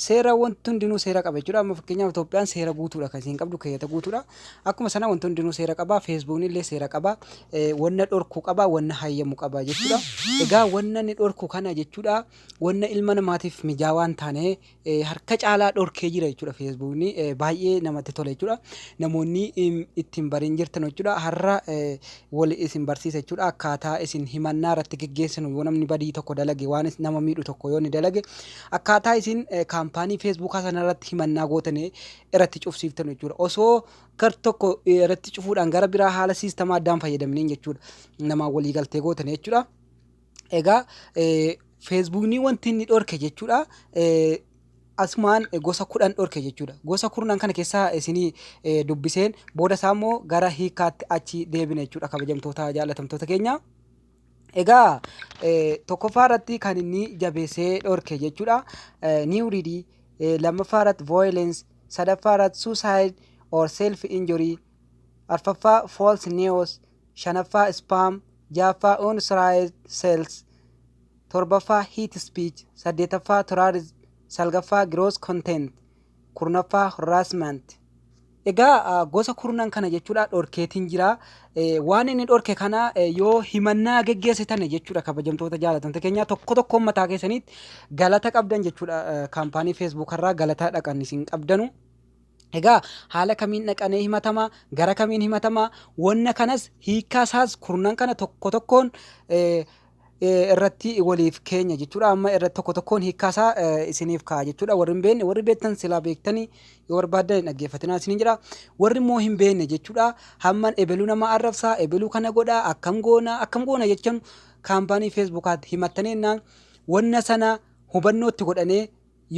Seera wanti hundinuu seera qaba jechuudha. Amma fakkeenyaaf Itoophiyaan seera guutuudha kan isiin qabdu keeyyata guutuudha. Akkuma sana wanti hundinuu seera qaba. Feesbuukni illee seera qaba. Eh, Wanna dhorku qaba, wanna hayyamu qaba jechuudha. Egaa wanna inni dhorku kana jechuudha. Wanna ilma namaatiif mijaawaa hin taane eh, harka caalaa dhorkee jira jechuudha Feesbuukni. Eh, Baay'ee namatti tola jechuudha. Namoonni im, ittiin bariin jirtan jechuudha. Har'a eh, wal isin barsiisa jechuudha. Akkaataa isin himannaa irratti geggeessinu yoo namni badii tokko dalage waan is- nama miidhu tokko yoo inni dalage Akkaataa isin kaampaanii feesbuukaa sana irratti himannaa gootane irratti cufsiiftan jechuudha. Osoo gar tokko irratti cufuudhaan gara biraa haala siistamaa addaan fayyadamneen jechuudha. Namaan walii galtee gootane jechuudha. Egaa feesbuukni wanti inni dhorke jechuudha. Asumaan gosa kudhan dhorke jechuudha. Gosa kurnan kana keessaa isinii dubbiseen booda isaa immoo gara hiikaatti achi deebina jechuudha kabajamtoota jaallatamtoota keenya. Egaa tokkoffaa irratti kan inni jabeessee dhorke jechuudha. New read lammaffaa irratti violence sadaffaa irratti suicide or self injury arfaffaa false news shanaffaa spam jaaffaa unauthorized sales torbaffaa hate speech saddeetaffaa terrorism salgaffaa gross content kurnaffaa harassment egaa gosa kurnan kana jechuudha dhorkeetiin jira waan inni dhorke kana yoo himannaa geggeessitan jechuudha kabajamtoota jaalatamta keenya tokko tokko ummataa keessaniitti galata qabdan jechuudha kaampaanii feesbuuk irraa galata dhaqan isin qabdanu egaa haala kamiin dhaqanee himatama gara kamiin himatama wanna kanas hiikaa isaas kurnan kana tokko tokkoon irratti waliif keenya jechuudha. Amma irratti tokko tokkoon hiikkaa isaa isiniif kaa'a jechuudha. Warri hin beekne warri beektan silaa beektanii yoo barbaaddan hin dhaggeeffatinaa isiniin jedha. Warri immoo hin beekne jechuudha. Hamman ebeluu nama arrabsaa, ebeluu kana godhaa, akkam goona, akkam goona jechan kaampaanii feesbuukaatti himattanii jennaan wanna sana hubannootti godhanee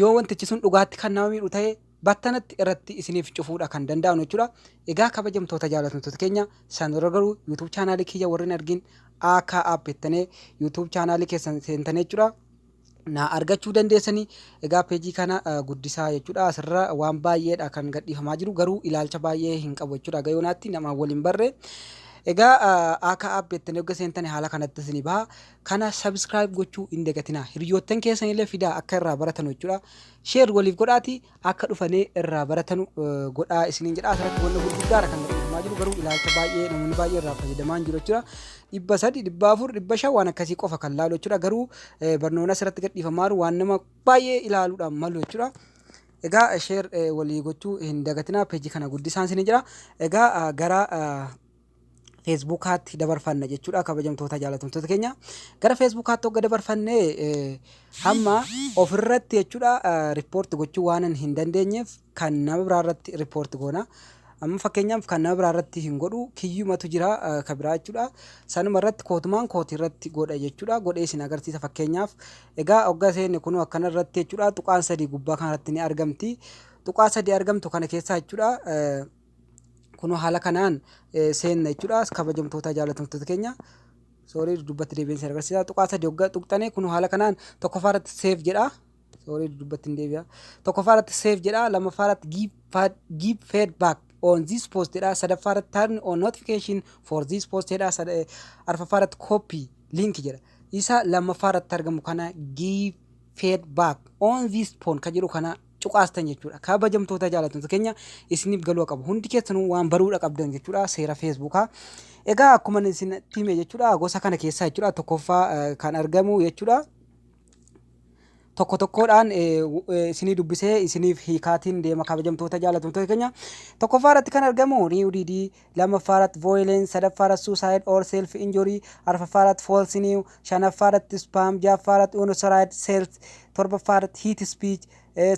Yoo wantichi sun dhugaatti kan nama miidhu ta'e battanatti irratti isiniif cufuudha kan danda'anu jechuudha. Egaa kabajamtoota jaallatamtoota keenya san dura garuu YouTube chaanaalii kiyya warri hin argin AK app jettanii YouTube chaanaalii keessan seentanii jechuudha. na argachuu dandeessanii egaa peejii kana eh, guddisaa jechuudha asirra waan baay'eedha kan gadhiifamaa jiru garuu ilaalcha baay'ee hin qabu jechuudha gayoonaatti namaan waliin barre egaa eh, akka app jettanii hogga seentanii haala kanatti isinii baha Kana subscribe gochuu hin dagatinaa. Hiryoottan keessanillee fidaa akka irraa baratanu jechuudha. Share waliif godhaati akka dhufanee irraa baratanu godhaa isiniin jedha. Asirratti wanna gurguddaadha kan gaggeeffamaa jiru garuu ilaalcha baay'ee namoonni baay'ee irraa fayyadamaa hin jiru jechuudha. Dhibba sadi, dhibba afur, dhibba shan waan akkasii qofa kan laalu jechuudha. Garuu barnoonni asirratti gadhiifamaa jiru waan nama baay'ee ilaaluudhaan malu jechuudha. Egaa share walii gochuu hin dagatinaa peejii kana guddisaan isiniin jedha. Egaa gara feesbuukaatti dabarfanna jechuudha kabajamtoota jaalatamtoota keenya gara feesbuukaatti hogga dabarfanne hamma ofirratti jechuudha riippoorti gochuu waanan hin dandeenyeef kan nama biraarratti riippoorti goona. Amma fakkeenyaaf kan nama biraarratti hin godhu kiyyumatu jira ka biraa jechuudha. Sanuma irratti kootumaan kooti irratti godha jechuudha. Godhee isin agarsiisa fakkeenyaaf. Egaa hogga seenne kunuu akkana irratti jechuudha tuqaan sadii gubbaa kanarratti ni argamti. Tuqaa sadii argamtu kana keessaa jechuudha. Kunoo haala kanaan eh, seenna jechuudha. Kabajamtoota jaalatamtoota keenya. Soorii dudubbatti deebi'een si agarsiisa. Tuqaa sadii hoggaa tuqxanii kunoo haala kanaan tokkoffaa irratti seef jedha. Soorii dudubbatti hin deebi'a. Tokkoffaa irratti seef jedha. Lammaffaa irratti give, fa- give feedback on this post jedha. Sadaffaa irratti turn on notification for this post jedha. Sada- eh, Arfaffaa irratti copy link jedha. Isa lammaffaa irratti argamu kana give feedback on this post kan jedhu kana cuqaastan jechuudha. Kabajamtoota jaalattoota keenya isiniif galuu qabu. Hundi keessanuu waan baruudha qabdan jechuudha seera feesbuukaa. Egaa akkuma isin hime jechuudha gosa kana keessaa jechuudha tokkoffaa eh, kan argamu jechuudha. tokko tokkoodhaan eh, w- eh, isinii dubbisee isiniif hiikaatiin deema kabajamtoota jaalattoota keenya. Tokkoffaa irratti kan argamu Riiwudiidii lammaffaarratti voyolence, sadaffaarratti suicide or self injury, arfaffaarratti false new, shanaffaarratti spam, jahaffaarratti unauthorized sales, torbaffaarratti hate speech,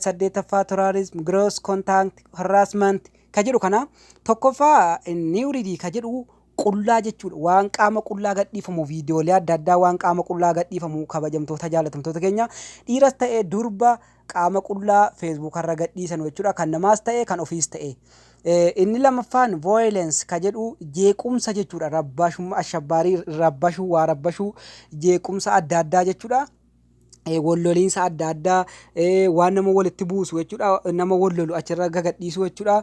saddeettaffaa terrorism, gross contact harassment ka jedhu kana tokkoffaa nuudity ka jedhu qullaa jechuudha waan qaama qullaa gadhiifamu viidiyoolee adda addaa waan qaama qullaa gadhiifamu kabajamtoota jaalatamtoota keenya dhiiras ta'e durba qaama qullaa Facebook irra gadhiisanu jechuudha. Kan namaas ta'e kan ofiis ta'e. Inni lammaffaan violence ka jedhu jeequmsa jechuudha. Rabbaashummaa ashabbaarii rabbashuu waa rabbashuu jeequmsa adda addaa jechuudha. Walloliinsa adda addaa waan nama walitti buusu jechuudha. Nama wallolu achirra gagadhiisuu jechuudha.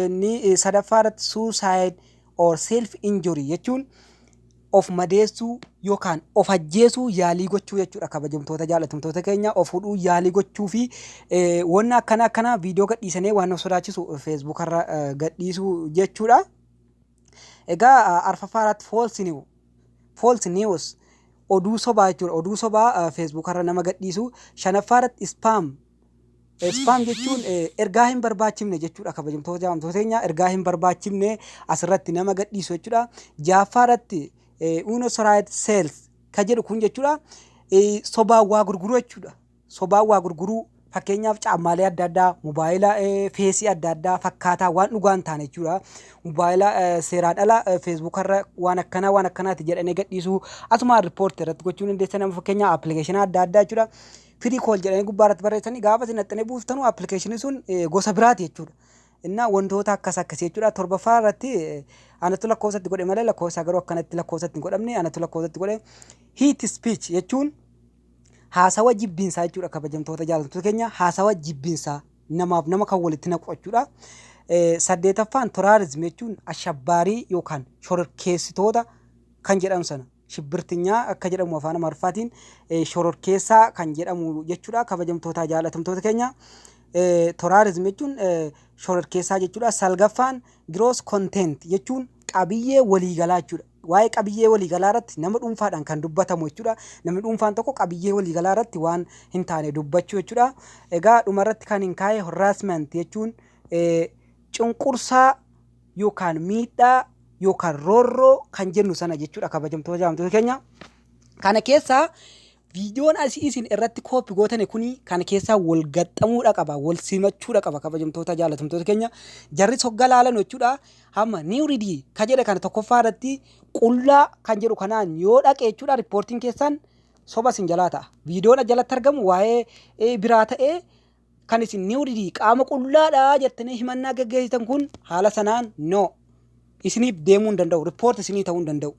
Inni sadaffaa irratti suicide or self injury jechuun of madeessuu yookaan of ajjeesuu yaalii gochuu jechuudha kabajamtoota jaalatamtoota keenya of hudhuu yaalii gochuu fi wanna akkana akkana viidiyoo gadhiisanee waan of sodaachisu feesbuuk irra gadhiisuu jechuudha. Egaa arfaffaa irratti false news false news oduu sobaa jechuudha oduu sobaa feesbuuk irra nama gadhiisu shanaffaa irratti spam Spam jechuun ergaa hin barbaachifne jechuudha kabajamtoota jaamtoota teenyaa ergaa hin barbaachifne asirratti nama gadhiisu jechuudha. Jaaffaa irratti uno saraayit seels ka jedhu kun jechuudha sobaan waa gurguruu jechuudha. Sobaan waa gurguruu fakkeenyaaf caammaalee adda addaa mobaayila feesii adda addaa fakkaataa waan dhugaa hin taane jechuudha. Mobaayila seeraan ala feesbuukarra waan akkanaa waan akkanaati jedhanii gadhiisuu asumaan riippoorti irratti gochuu dandeessa nama fakkeenyaa appilikeeshina adda addaa jechuudha. Free call jedhanii gubbaa irratti barreessanii gaafa isin dhaxxanii buuftanu appilikeeshinii sun gosa biraati jechuudha. Innaa wantoota akkas akkasii jechuudha. Torbaffaa irratti anatu lakkoofsa itti godhe malee lakkoofsa garuu akkanatti lakkoofsa itti hin godhamne anatu lakkoofsa itti godhe. Hate speech jechuun haasawa jibbiinsaa jechuudha kabajamtoota jaallatamtoota keenya haasawa jibbiinsaa namaaf nama kan walitti naqu jechuudha. Saddeetaffaan terrorism jechuun ashabbaarii yookaan shororkeessitoota kan jedhamu sana. Shibbirtinyaa akka jedhamu afaan Amaariffaatiin shororkeessaa kan jedhamu jechuudha. Kabajamtootaa jaalatamtoota keenya toraarizim jechuun shororkeessaa jechuudha. Salgaffaan gross content jechuun qabiyyee waliigalaa jechuudha. Waa'ee qabiyyee waliigalaa irratti nama dhuunfaadhaan kan dubbatamu jechuudha. Namni dhuunfaan tokko qabiyyee waliigalaa irratti waan hin taane dubbachuu jechuudha. Egaa dhuma irratti kan hin kaa'e harassment jechuun cunqursaa yookaan miidhaa yookaan roorroo kan jennu sana jechuudha kabajamtoota jaamtoota keenya. Kana keessaa viidiyoon asii isin irratti kooppi gootane kuni kana keessaa wal gaxxamuudha qaba wal simachuudha qaba kabajamtoota jaalatamtoota keenya jarri sogga laalan jechuudha hamma niwridii ka jedhe kana tokkoffaa irratti qullaa kan jedhu kanaan yoo dhaqe jechuudha riippoortiin keessan soba isin jalaa ta'a viidiyoon jalatti argamu waa'ee biraa ta'ee kan isin new didii qaama qullaadha jettanii himannaa geggeessitan kun haala sanaan no isiniif deemuu hin danda'u ripoort isinii ta'uu hin danda'u.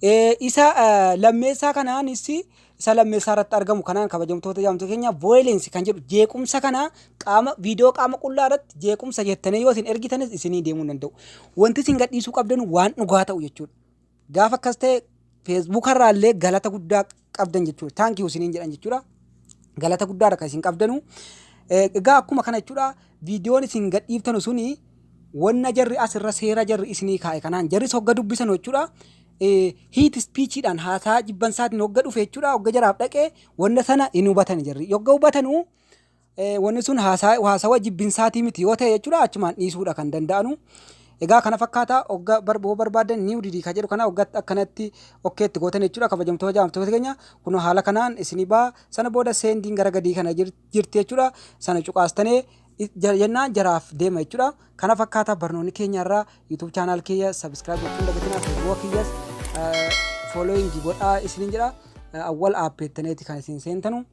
Eh, Isa eh, lammeessaa kanaanis isa lammeessaa irratti argamu kanaan kabajamtoota jaamtota keenya violence kan jedhu jeequmsa kana qaama viidiyoo qaama qullaa irratti jeequmsa jettanii yoo isin ergitanis isinii deemuu hin danda'u. Wanti isin gadhiisuu qabdan waan dhugaa ta'u jechuudha. Gaafa akkas ta'e feesbuuka irraa illee galata guddaa qabdan jechuudha. Thank you isiniin jedhan jechuudha. Galata guddaa irra kan isin qabdanu. Eh, Egaa akkuma kana jechuudha viidiyoon isin gadhiiftanu suni wanna jarri as irra seera jarri isinii kaa'e kanaan jarris hogga dubbisan jechuudha. Eh, Hiit ispiichiidhaan haasaa jibbansaatiin hogga dhufe jechuudha hogga jaraaf dhaqe wanna sana hin hubatan jarri. Hogga hubatanu Wanni sun haasawa jibbinsaatii miti yoo ta'e jechuudha achumaan dhiisuudha kan danda'anu. Egaa kana fakkaata ogga barboo barbaadan niiw didii kan jedhu kana oggatti akkanatti okkeetti gootan jechuudha kabajamtoota jaamtoota keenya kunoo haala kanaan isinii baa sana booda seendiin gara gadii kana jirti jechuudha sana cuqaastanee jennaan jaraaf deema jechuudha kana fakkaata barnoonni keenya irraa yuutuub chaanaal keenya sabiskiraayib gochuun dagatinaa feesbuuka keenyas foolooyingi godhaa isiniin jedha awwal aappeettaneeti kan isin seentanu.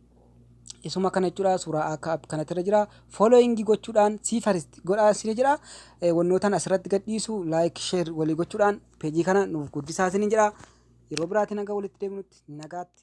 isuma kana jechuudha suuraa akka app kanatti irra jira following gochuudhaan sii farist godhaa isin jedha Eh, wannootan asirratti gadhiisu like share walii gochuudhaan peejii kana nuuf guddisaa isin jedha yeroo biraatiin hanga walitti deemnutti nagaatti